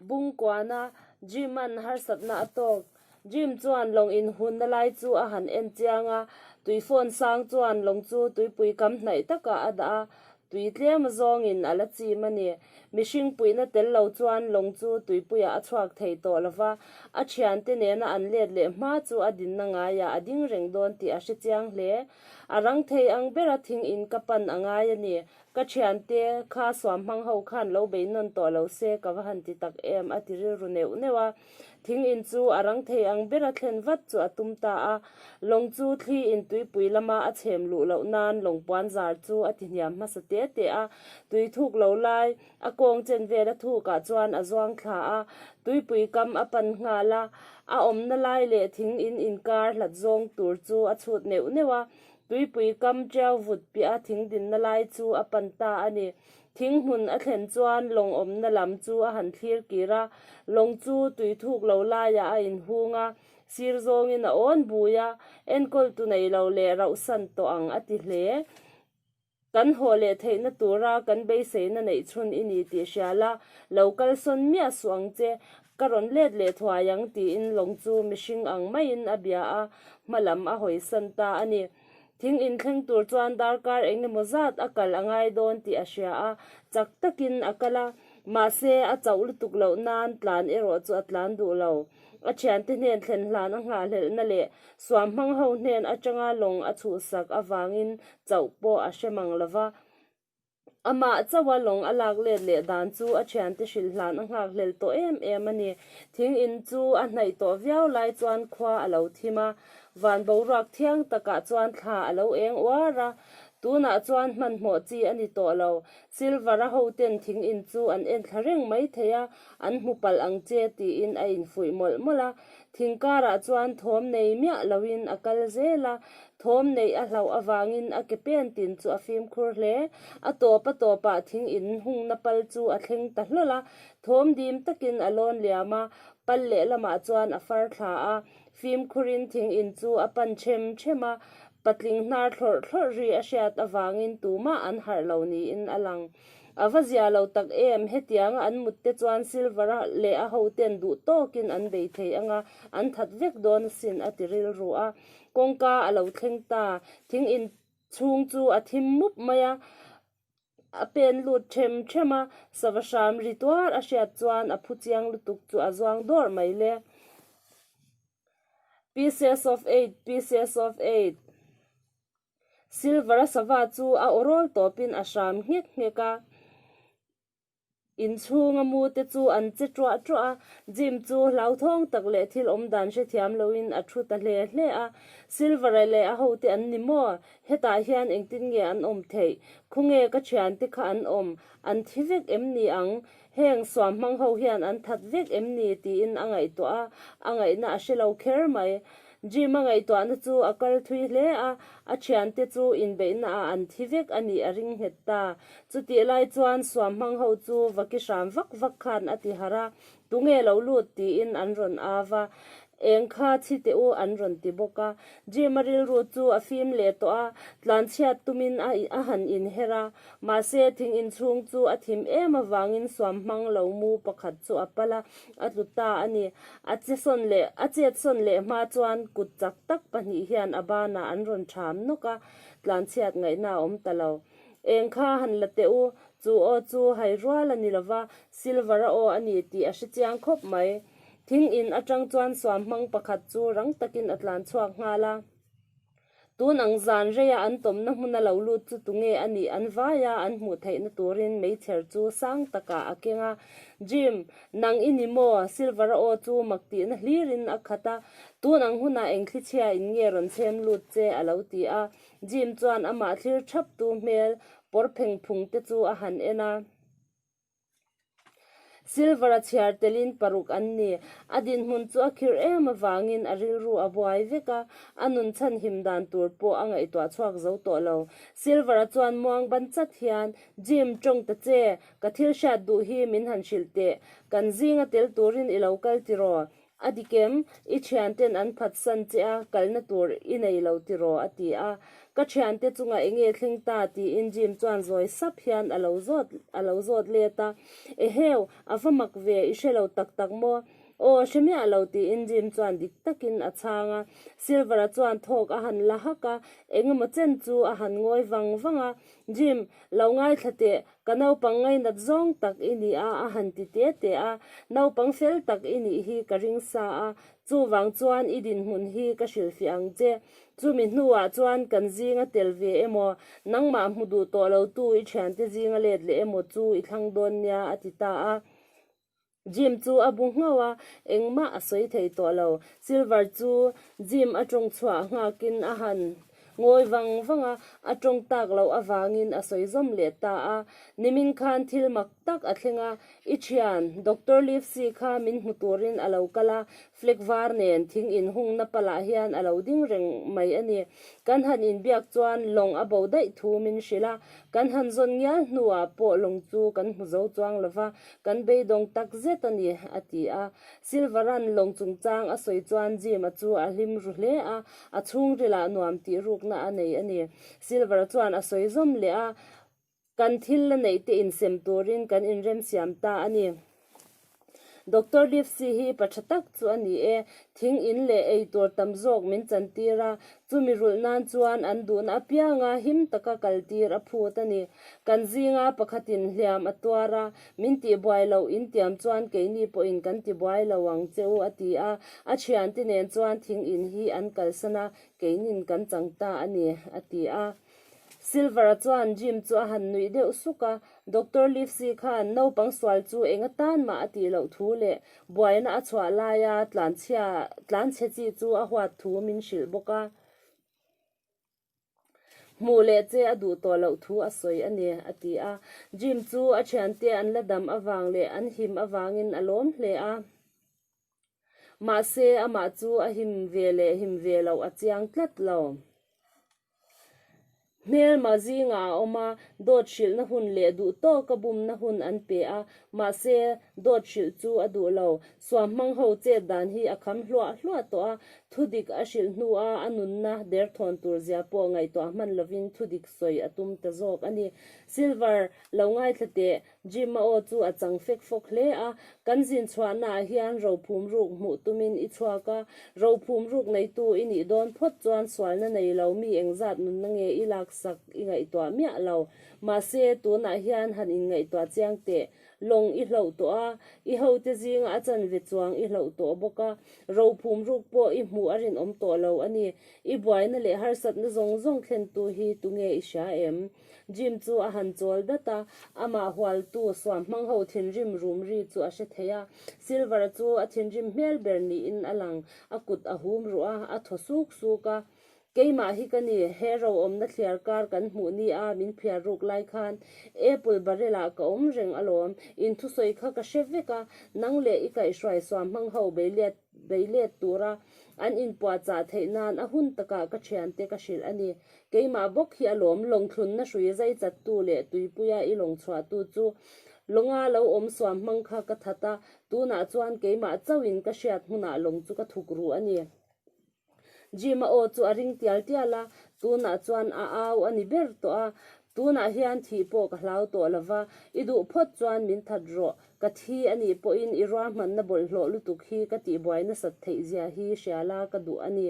Bung kuahna, Jim a an harsatna a tawk. Jim chuan lawng inhunna lai chu a han en chiang a, tui fawn sang chuan lawng chu tuipui kam hnaih takah a dah a, tui tlema zawngin a la chim a ni. Mihring puihna tel lo chuan lawng chu tuipuiah a chhuak thei tawh lo va, a thiante nena an let leh hma chu a dinna ngaiah a ding reng dawn tih a hre chiang hle. A rang thei ang ber a thing in ka pan a ngai a ni. Ka thian te kha suam hmang ho khan lo bei nawn tawh lo se ka va han ti tak em a ti rilru neuh neuh a. Thing in chu a rang thei ang ber a thlen vat chu a tum ta a. Lawng chu thli in tuipui lam a a chhem luh loh nan lawng puan zar chu a ti hniam hmasa te te a. Tui thuk lo lai. A kawng chen vel a thuk ah chuan a zuang thla a, tuipui kam a pan nghal a, a awmna lai leh thing in inkar hlat zawng tur chu a chhut neuh neuh a, tuipui kam tiau vut piah a thing dinna lai chu a pan ta a ni. Thing hmun a thlen chuan lawng awmna lam chu a han thlir kir a, lawng chu tui thuk lo lai ah a in hung a, sir zawng in a awn bui a, enkawl tu nei lo leh rauh san tawh ang a ti hle. Kan haw leh theihna tura kan beiseina neih chhun i ni tih hria la, lo kalsawn miah suh ang che, ka rawn let leh thuai ang tiin lawng chu mihring ang maiin a bia a, hma lam a hawi san ta a ni. Thing inthleng tur chuan darkar eng emaw zat a kal a ngai dawn tih a hria a, chak takin a kal a, mahse a chauh lutuk loh nan tlan erawh chu a tlan duh lo. a thiante hnên thlen hlan a nghahhlelhna leh suam hmang ho hnên atanga lawng a chhuhsak avângin chauh pawh a hre mang lo va. Amah chaua lawng a lâk lêt leh dân chu a thiante hrilh hlan a nghakhlel tawh êm êm a ni. Thing in chu a hnaih tawh viau lai chuan khua a lo thim a, vân boruak thiang takah chuan thla a lo êng uar a. Tûnah chuan hmanhmawh chi a ni tawh lo. Silver a hoten thing in chu an en thla reng mai thei a, an hmu palh ang che tiin a infuih mawlh mawlh a. Thing karah chuan thawm nei miah loin a kal zel a, thawm neih a hlauh avangin a ke pen tin chu a fimkhur hle. A tawpa tawpah thing in hungna pal chu a thleng ta hlawl a, thawm dim takin a lawn liam a, pal lehlamah chuan a far thla a, Fimkhurin thing in chu a pan ṭhem ṭhem a, patling hnar thlawrh thlawrh ri a hriat avangin tumah an harh lo niin a lang. A va zia lo tak em, hetianga an mutte chuan Silver a leh a hoten duh tawkin an bei thei anga, an that vek dawn asin, a ti rilru a. Kawngka a lo thleng ta, thing in chhung chu a thim mup mai a. A pen lut ṭhem ṭhem a, sava hram ri tuar a hriat chuan a phu chiang lutuk chu a zuang dawrh mai le. Pieces of eight, pieces of eight. Silver-a sava chu a aw rawl tawpin a hram nghek nghek a. Inchhunga mu te chu an che ṭuah ṭuah a. Jim chu hlauthawng tak leh thil awmdan hrethiam loin a ṭhu ta hle hle a. Silvere leh a hote an ni maw? Hetah hian engtin nge an awm theih? Khawnge ka ṭhiante kha an awm? An thi vek em ni ang? Heng suam hmang ho hian an that vek em ni? tiin a ngaihtuah a. A ngaihna a hre lo kher mai. Jim-a ngaihtuahna chu a kal thui hle a, a thiante chu inbeihnaah an thi vek a nih a ring nghet ta. Chutih lai chuan suam hmang ho chu va ki hram vak vak khan a ti harh a, Tunge lo lut? tiin an rawn au a, Eng kha chhi teh u an rawn ti bawk a. Jim-a rilru chu a fim leh tawh a, tlanchhiat tumin a a han inherh a. Mahse, thing inchhung chu a thim em avangin suam hmang lo mu pakhat chu a pal a. A tlu ta a ni. A che sawn leh a chet sawn leh hma chuan kut chak tak pahnih hian a banah an rawn ṭham nawk a, tlanchhiat ngaihna a awm ta lo. Eng kha han la teh u, chu aw chu hai rual a ni lo va, silver a aw a ni tih a hre chiang khawp mai. Thing in aṭang chuan suam hmang pakhat chu rang takin a tlan chhuak nghal a. Tun ang zan reia an tawmna hmun a lo lut chu tunge a nih an vai a, an hmuh theihna turin Meichher chu sang takah a keng a. Jim, nang i ni maw? Silveraw chu mak tihna hlirin a khat a. Tun ang hunah eng thlichhia in nge rawn chhem lut che? a lo ti a. Jim chuan amah thlir thap tu hmel pawr phengphung te chu a han en a. Silver a chhiar telin paruk an ni. A dinhmun chu a khirh em avangin a rilru a buai vek a, a nun chhan him dan tur pawh a ngaihtuah chhuak zo tawh lo. Silver a chuan muang ban chat hian, Jim, tawng ta che, ka thil hriat duh hi min han hrilh teh. Kan zing a tel turin i lo kal tiraw? A dikem, i thianten an phatsan che a, kalhna tur i nei lo tiraw? a ti a. Ka thiante chungah enge thleng ta? tiin Jim chuan zawi sap hian a lo zawt, a lo zawt let a. Eheu, a va mak ve, i hre lo tak tak maw? Aw, hre miah lo tiin Jim chuan dik takin a chhang a. Silver-a chuan thawk a han la hak a, engemaw chen chu a han ngawi vang vang a. Jim, lo ngaithla teh, Ka naupang ngainat zawng tak i ni a, a han ti te te a. Naupang fel tak i nih hi ka ring sa a, chuvang chuan i dinhmun hi ka hrilh fiah ang che. Chumi hnuah chuan kan zinga tel ve emaw, nangmah hmu duh tawh lotu i thiante zinga let leh emaw chu i thlang dawn nia a ti ta a. Jim chu a bu nghauh a, engmah a sawi thei tawh lo. Silver chu Jim a tawng chhuah nghakin a han ngawi vang vang a, a tawng tak loh avangin a sawi zawm leh ta a. Nimin khan thil mak tak a thleng a, I thian, Doctor Livesey kha min hmu turin a lo kal a, Flag var nen thing inhungna palah hian a lo ding reng mai a ni. Kan han inbiak chuan lawng a bo daih thu min hrilh a, kan han zawn ngial hnuah pawh lawng chu kan hmu zo chuang lo va, kan beidawng tak zet a ni, a ti a. Silvaran lawng chungchang a sawi chuan Jim-a chu a hlim ru hle a, a chhungrila nuam tihrukna a nei a ni. Silvara chuan a sawi zawm leh a, Kan thil la neih te insem turin kan inremsiam ta a ni. Doctor Livesey hi pa tha tak chu a ni e. Thing in leh ei tur tam zawk min chantir a, chumi rulh nan chuan an duhna apianga him taka kaltir a phut a ni. Kan zinga pakhatin hliam a tuar a, min tihbuai lo in tiam chuan keini pawhin kan ti buai lo ang che u a ti a. A thiante nen chuan thing in hi an kalsan a, keinin kan chang ta a ni a ti a. Silver-a chuan Jim chu a han nuih deuh suk a. Doctor Livesey khan naupang sual chu eng atan mah a tih loh thu leh buaina a chhuah laia tlanchhia, tlanchhe chi chu a huat thu min hrilh bawk a. Hmuh leh che a duh tawh loh thu a sawi a ni, a ti a. Jim chu a thiante an la dam avang leh an him avangin a lawm hle a. Mahse, amah chu a him ve leh him ve loh a chiang tlat lo. Hmelma zingah a awm a, dawt hrilhna hun leh duhtawka bumna hun an pe a. Mahse, dawt hrilh chu a duh lo. Suamhmang ho chet dan hi a kham hluah hluah tawh a. Thu dik a hrilh hnua a nunna derthawn tur zia pawh ngaihtuah hman lovin thu dik sawi a tum ta zawk a ni. Silver, lo ngaithla teh. Jim-aw chu a chang fek fawk hle a, kan zin chhuahnaah hian rophum ruk hmuh tumin i chhuak a, rophum ruk neitu i nih dawn phawt chuan sualna nei lo mi engzat nunna nge i laksak i ngaihtuah miah lo. Mahse, tunah hian han inngaihtuah chiang teh, lawng i hlauh tawh a, i hote zinga a chanve chuang i hlauh tawh bawk a, rophum ruk pawh i hmuh a rinawm tawh lo a ni. I buaina leh harsatna zawng zawng thlentu hi tunge i hria em? Jim chu a han chawl dat a, amah hualtu suam hmang ho thinrim rum ri chu a hre thei a. Silver chu a thinrim hmel ber niin a lang. A kut a hum ruh a, a thaw suk suk a. Keimah hi ka ni, he roawmna thliar kar kan hmuh ni a, min phiar ruk lai khan apple barrel ah ka awm reng alawm. Inthusawi kha ka hre vek a, nang leh i kaihhruai suam hmang ho Beiliat. daih let tura an inpuahchah theih nan a hun takah ka thiante ka hrilh a ni. Keimah bawk hi a lawm, lawngthlunna hrui zaichattu leh tuipuia i lawngchhuahtu chu lawnga lo awmsuam hmang kha ka that a, tunah chuan keimah chauhin ka hriat hmunah lawng chu ka thuk ruh a ni. Jim-a-aw chu a ring tial tial a, tunah chuan a au a ni ber tawh a. Tunah hian thih pawh ka hlau tawh lo va, i duh phawt chuan min that rawh, ka thi a nih pawhin i ruahmanna bawlhhlawh lutuk hi ka tihbuai nasat theih zia hi hria la ka duh a ni.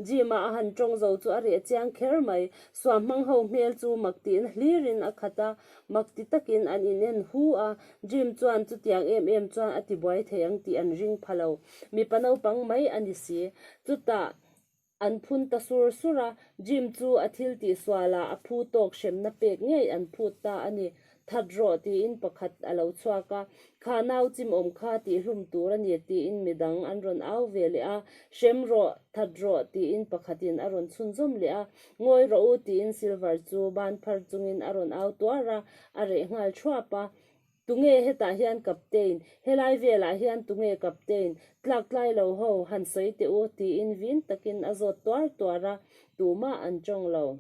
Jim-a a han tawng zo chu a reh chiang kher mai, suam hmang ho hmel chu mak tihna hlirin a khat a, mak ti takin an inen hu a. Jim chuan chutiang em em chuan a tibuai thei ang tih an ring pha lo. Mipa naupang mai a ni si. Chutah an phun ta sur sur a. Jim chu a thil tih sualah a phu tawk hremna pek ngei an phut ta a ni. That rawh tiin pakhat a lo chhuak a, kha nau chim awm kha tih hlum tur a ni tiin midang an rawn au ve leh a. Hrem rawh, that rawh tiin pakhatin a rawn chhunzawm leh a. Ngawi rawh u, tiin Silver chu ban phar chungin a rawn au tuar a, a reh nghal thuap a. Tunge hetah hian Kaptein? Helai velah hian tunge Kaptein? Tlaktlai lo ho, han sawi teh u, tiin vin takin a zawt tuar tuar a, tumah an tawng lo.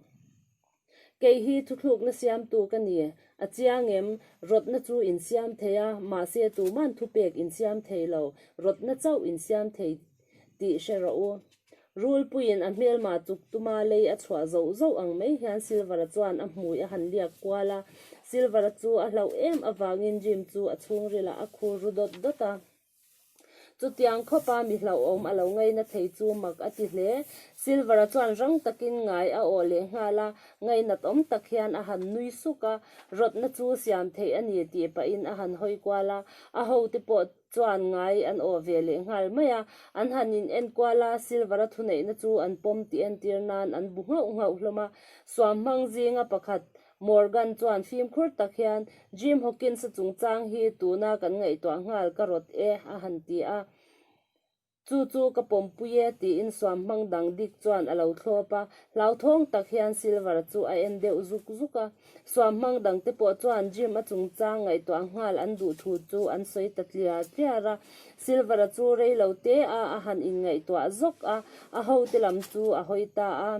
Kei hi thuthlukna siamtu ka ni. A chiang em? Rawtna chu in siam thei a, mahse tuma'n thupek in siam thei lo, rawtna chauh in siam thei. tih hre rawh u. Rulpuiin a hmelma tuk tuma lei a chhuah zauh zauh ang mai hian Silvera chuan a hmui a han liak kual a. Silvera chu a hlauh em avangin Jim chu a chhungrila a khur ru dawt dawt a. Chutiang khawpa mi hlauhawm a lo ngaina thei chu mak a ti hle. Silvera chuan rang takin ngai a awh leh nghal a, ngainat awm tak hian a han nui suk a. Rawtna chu siam theih a ni tih pahin a han hawi kual a. A hote pawh chuan ngai an awh ve leh nghal mai a, an han in enkual a, silver-a thuneihna chu an pawm tih entir nan an bu nghauh nghauh hlawm a. Suam hmang zinga pakhat, Morgan chuan fimkhur tak hian, Jim Hawkins-a chungchang hi tuna kan ngaihtuah nghal ka rawt e, a han ti a. Chu chu ka pawmpui e, tiin suam hmang dang dik chuan a lo thlawp a, hlauthawng tak hian Silver chu a en deuh zuk zuk a. Suam hmang dang te pawh chuan Jim a chungchang ngaihtuah nghal an duh thu chu an sawi ta tliar tliar a. Silver chu rei lo te a a han inngaihtuah zawk a, a hote lam chu a hawi ta a.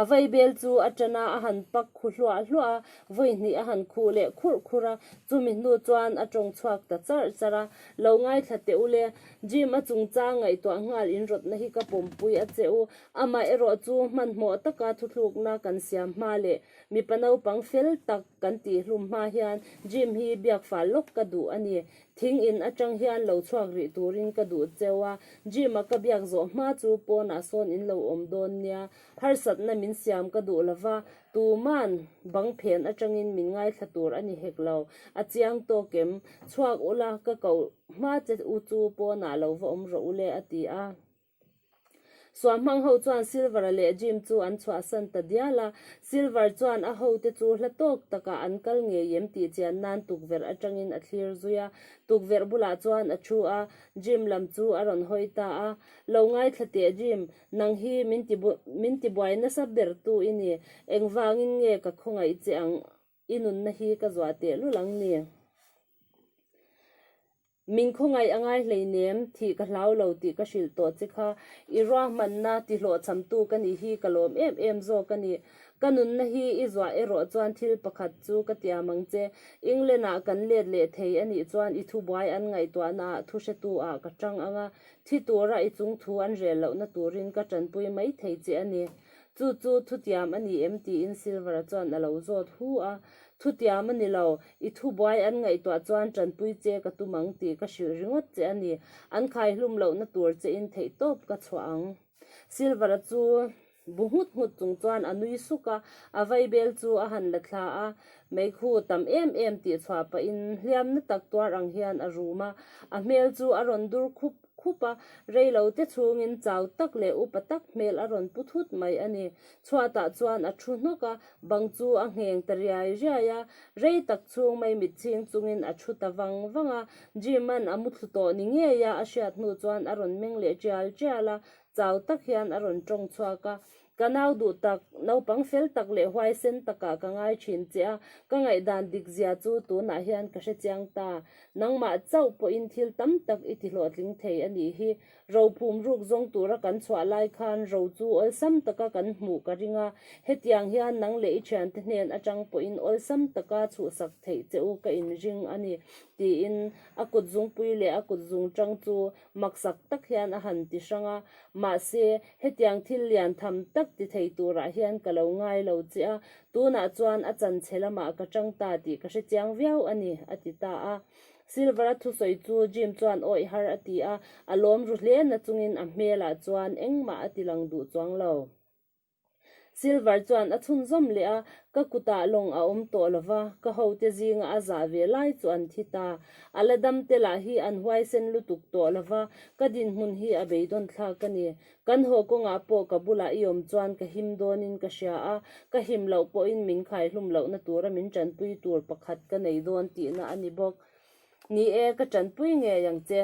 A vaibel chu a tana a han pak khu hluah hluah a, vawihnih a han khuh leh khurh khurh a, chumi hnu chuan a tawng chhuak ta char char a. Lo ngaithla teh u le, Jim a chungcha ngaihtuah nghal in rawtna hi ka pawmpui a che u. Amah erawh chu hmanhmawh taka thuthlukna kan siam hma leh mipa naupang fel tak kan tih hlum hma hian Jim hi biakfal lawk ka duh a ni. Thing in atang hian lo chhuak rih turin ka duh cheu a, gym a ka biak zawh hma chu pawnah sawn in lo awm dawn nia, harsatna min siam ka duh lo va, tuman bang phen atangin min ngaithla tur a ni hek lo, a chiang tawk em, chhuak ula ka koh hma che u chu pawnah lo va awm rawh ule a ti a. Suah hmang ho chuan Silvara leh Jim chu an chhuahsan ta dial a. Silvar chuan a hote chu hla tawk takah an kal ngei em tih chian nan tukverh atangin a thlir zui a. Tukverh bulah chuan a thu a, Jim lam chu a rawn hawi ta a, Lo ngaithla teh Jim, nang hi min tibuai nasa ber tu i ni, engvangin nge ka khawngaih che ang? i nunna hi ka zuah teh lul ang ni. Min khawngaih a ngai hlei nem, thih ka hlau lo tih ka hrilh tawh che kha. I ruahmanna tihlawhchamtu ka nih hi ka lawm em em zawk a ni. Ka nunna hi i zuah erawh chuan thil pakhat chu ka ti am ang che, England ah kan let leh thei a nih chuan i thubuai an ngaihtuahna ah thuhretu ah ka chang ang a, thi tura i chungthu an rel lohna turin ka tanpui mai thei che a ni. Chu chu thutiam a ni em? tiin Silvera chuan a lo zawt hu a. Thutiam a ni lo. I thubuai an ngaihtuah chuan tanpui che ka tum ang tih ka hrilh ringawt che a ni. An khaihlum lohna tur chein theih tawp ka chhuah ang. Silvera chu bu nghut nghut chung chuan a nui suk a, a vai bel chu a han la thla a. Meg hu tam em em tih chhuah pahin hliamna tak tuar ang hian a rum a, a hmel chu a rawn dur khup. khup a, reilo te chhungin chau tak leh upa tak hmel a rawn pu thut mai a ni. Chhuatah chuan a thu hnawk a, bang chu a ngheng ta riai riai a, rei tak chhung mai mitchhing chungin a thu ta vang vang a, Jim-a'n a mu thlu tawh ni ngei a, a hriat hnu chuan a rawn meng leh tial tial a, chau tak hian a rawn tawng chhuak a, Ka nau duh tak, naupang fel tak leh huaisen takah ka ngai thin che a, ka ngaihdan dik zia chu tunah hian ka hre chiang ta. Nangmah chauh pawhin thil tam tak i tihlawhtling thei a nih hi. Ro phum ruk zawng tura kan chhuah lai khan ro chu awlsam taka kan hmuh ka ring a, hetiang hian nang leh i thiante hnen atang pawhin awlsam taka chhuhsak theih che u ka inring a ni, tiin a kutzungpui leh a kutzungtang chu maksak tak hian a han ti hrang a, mahse, hetiang thil lian tham tak ti thei turah hian ka lo ngai lo che a, tunah chuan a chanchhe lamah ka chang ta tih ka hre chiang viau a ni, a ti ta a. Silver-a thusawi chu Jim chuan awih har a ti a, a lawm ru hle nachungin a hmelah chuan engmah a ti lang duh chuang lo. Silver chuan a chhun zawm leh a, ka kutah lawng a awm tawh lova, ka hote zinga a zah ve lai chu an thi ta. A la dam te lah hi an huaisen lutuk tawh lova, ka dinhmun hi a beidawnthlak a ni. Kan haw kawngah pawh ka bulah i awm chuan ka him dawnin ka hria a, ka him loh pawhin min khaihlum lohna tura min tanpui tur pakhat ka nei dawn tihna a ni bawk. Ni e, ka tanpui ngei ang che.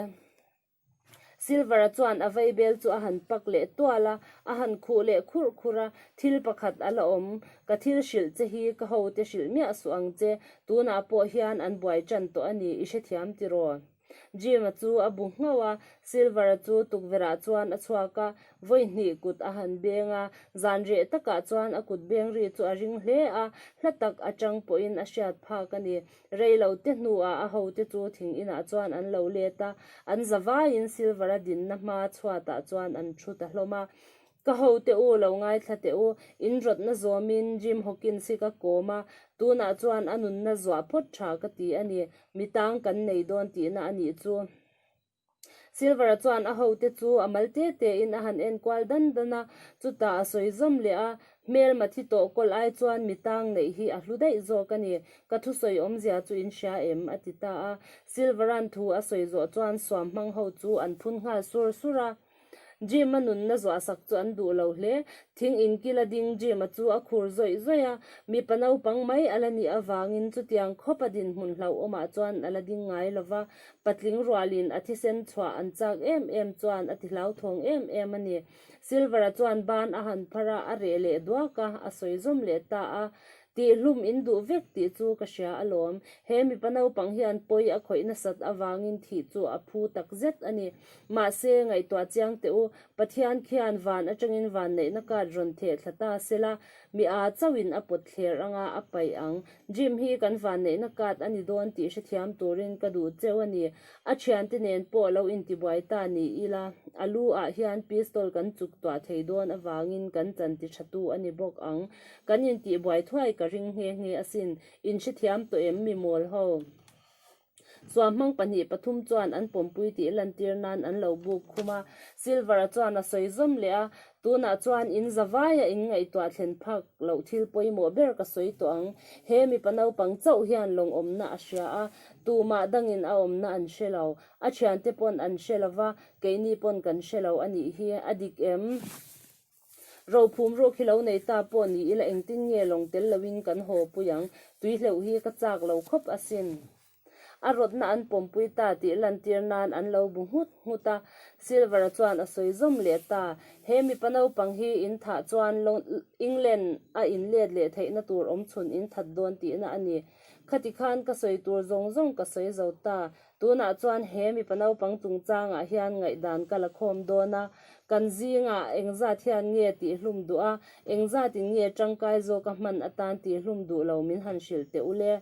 Silver-a chuan a vaibel chu a han pak leh tual a, a han khuh leh khurh khurh a, Thil pakhat a la awm, ka thil hrilh che hi ka hote hrilh miah suh ang che, tunah pawh hian an buai ṭan tawh a ni, i hrethiam tiraw? Jim-a chu a bu nghauh a, Silver-a chu tukverhah chuan a chhuak a, vawihnih kut a han beng a, zanriah takah chuan a kut beng ri chu a ring hle a, hla tak aṭang pawhin a hriat phak a ni. Rei lo te hnuah a hote chu thing inah chuan an lo let a, an za vaiin Silvera dinna hmaa chhuatah chuan an thu ta hlawm a. Ka ho teh u, lo ngaithla teh u, in rawtna zawmin Jim Hawkins hi ka kawm a, tunah chuan a nunna zuah phawt tha ka ti a ni, mi tang kan nei dawn tihna a nih chu. Silvera chuan a hote chu a mal te tein a han en kual dan dan a, chutah a sawi zawm leh a, Hmelma thi tawh kawlh ai chuan mi tang neih hi a hlu daih zawk a ni, ka thusawi awmzia chu in hria em? a ti ta a. Silvera'n thu a sawi zawh chuan suam hmang ho chu an phun nghal sur sur a. Jim-a nunna zawhsak chu an duh lo hle. Thing inkila ding Jim-a chu a khur zawih zawih a, mipa naupang mai a la nih avangin chutiang khawpa dinhmun hlauhawmah chuan a la ding ngai lo va, patling rualin a thisen chhuah an chak em em chuan a ti hlauthawng em em a ni. Silver-a chuan ban a han phar a, a reh leh duak a, a sawi zawm leh ta a, tih hlum in duh vek tih chu ka hria alawm. He mipa naupang hian pawi a khawih nasat avangin thih chu a phu tak zet a ni. Mahse, ngaihtuah chiang teh u, Pathian khian van atangin vanneihna kat rawn theh thla ta sela, mi aa chauhin a pawt thler anga a paih ang. Jim hi kan vanneihna kat a ni dawn tih hrethiam turin ka duh cheu a ni. A thiante nen pawh lo intibuai ta ni ila, a lu ah hian pistol kan chuktuah thei dawn avangin kan chanti thatu a ni bawk ang. Kan intih buai thuai ka ring nghe nghe asin, in hre thiam tawh em mi mawl ho. Suam hmang pahnih pathum chuan an pawmpui tih lantir nan an lo buk khum a, Silvera chuan a sawi zawm leh a, Tunah chuan in za vaia in ngaihtuah thlen phak loh thil pawimawh ber ka sawi tawh ang. He mipa naupang chauh hian lawng awmna a hria a, tumah dangin a awmna an hre lo. A thiante pawn an hre lova, keini pawn kan hre lo anih hi, a dik em? Rophum ruak hi lo nei ta pawh ni ila engtin nge lawng tel loin kan haw pui ang? Tui hleuh hi ka chak lo khawp asin. A rawtna an pawm pui ta tih lantir nan an lo bu nghut nghut a. Silvera chuan a sawi zawm leh ta. He mipa naupang hi in thah chuan England a in let leh theih na tur awm chhun in that dawn tihna a ni. Khati khan ka sawi tur zawng zawng ka sawi zo ta. Tunah chuan he mipa naupang chungchangah hian ngaihdan ka la khawm dawn a, kan zingah engzat hian nge tih hlum duh a, engzatin nge tangkai zawk a hman atan tih hlum duh lo min han hrilh teh ul e.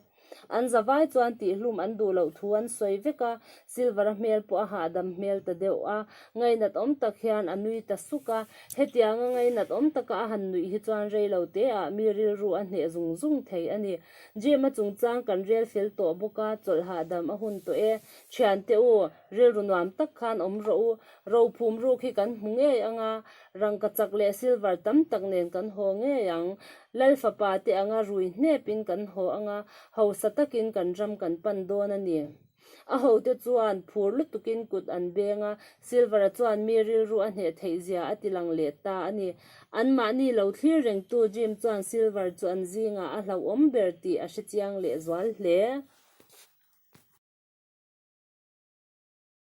An zavai chuan tih hlum an duh loh thu an sawi vek a, Silver-a hmel pawh a hahdam hmel ta deuh a, ngainat awm tak hian a nui ta suk a, hetianga ngainat awm taka a han nuih hi chuan rei lo te ah mi rilru a hneh zung zung thei a ni. Gym a chungchang kan rel fel tawh bawk a, chawlh hahdam a hun tawh e. Thian teh u, rilru nuam tak khan awm rawh u. Rophum ruk hi kan hmu ngei ang a, rangkachak leh silver tam tak nen kan haw ngei ang. Lal fapa te anga rui hnep in kan haw ang a, hausa takin kan ram kan pan dawn a ni. A hote chuan phur lutukin kut an beng a, Silver-a chuan mi rilru a hneh theih zia a ti lang leh ta a ni. Anmahni lo thlir rengtu Jim chuan Silver chu an zingah a hlauhawm ber tih a hrechiang leh zual hle.